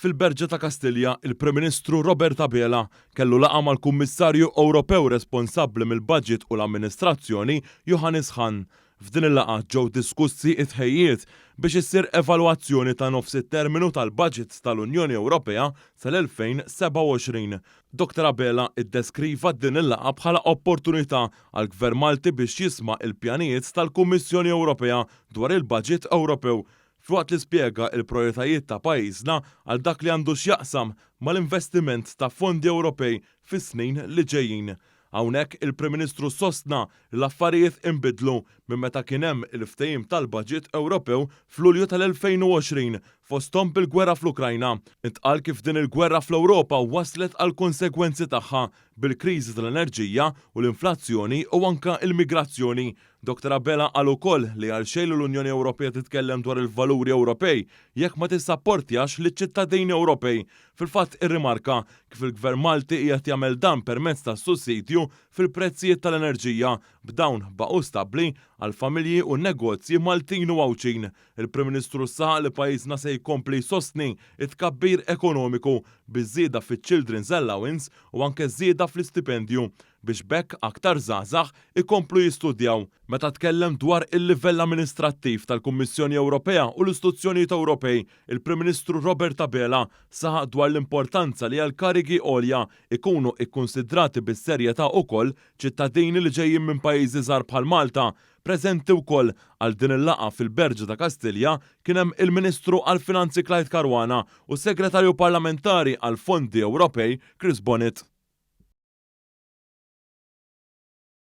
Fil-Berġa ta' Kastilja, il-Prim Ministru Robert Abela kellu laqgħa mal-Kummissarju Ewropew responsabbli mill-Baġit u l-Amministrazzjoni Johannes Hahn. F'din il-laqgħa ġew diskussi t-tħejjijiet biex issir evalwazzjoni ta' nofs it-terminu tal-baġit tal-Unjoni Ewropea sal-2027. Doctor Abela ddeskriva din il-laqgħa bħala opportunità għall-Gvern Malti biex jisma' l-pjanijiet tal-Kummissjoni Ewropea dwar il-Baġit Ewropew, filwaqt li spjega l-prijoritajiet ta' pajjiżna għal dak li għandu x'jaqsam mal-investiment ta' fondi Ewropej fis-snin li ġejjin. Hawnhekk il-Prim Ministru sostna li l-affarijiet inbidlu minn meta kien hemm il-ftehim tal-baġit Ewropew f'Lulju tal-2020, fosthom bil-gwerra fl-Ukrajna. Intqal kif din il-gwerra fl-Ewropa wasslet għall-konsegwenzi tagħha, bil-kriżi tal-enerġija u l-inflazzjoni u anke l-migrazzjoni. Dottor Abela qal ukoll li għal xejn li l-Unjoni Ewropea titkellem dwar il-valuri Ewropej jekk ma tissapportjax liċ-ċittadini Ewropej Fil-fatt irrimarka kif il-Gvern Malti qiegħed jagħmel dan permezz tas-sussidju fil-prezzijiet tal-enerġija, b'dawn baqgħu stabbli għall-familji u n-negozji Maltin u Għawdxin. Il-Prim Ministru saħaq li pajjiżna se jkompli jsostni t-tkabbir ekonomiku biż-żieda fiċ-Children's Allowance u anke żieda fl-istipendju. biex b'hekk aktar żgħażagħ ikomplu jistudjaw. Meta tkellem dwar il-livell amministrattiv tal-Kummissjoni Ewropea u l-istituzzjonijiet Ewropej, il-Prim Ministru Robert Abela saħaq dwar l-importanza li għal karigi għolja jkunu ikkunsidrati bis-serjetà ukoll ċittadini li ġejjin minn pajjiżi żgħar bħal Malta Preżenti wkoll għal din il-laqgħa fil-Berġa ta' Kastilja kien hemm il-Ministru għall-Finanzi Clyde Caruana u s-Segretarju Parlamentari għall-Fondi Ewropej Chris Bonnitt.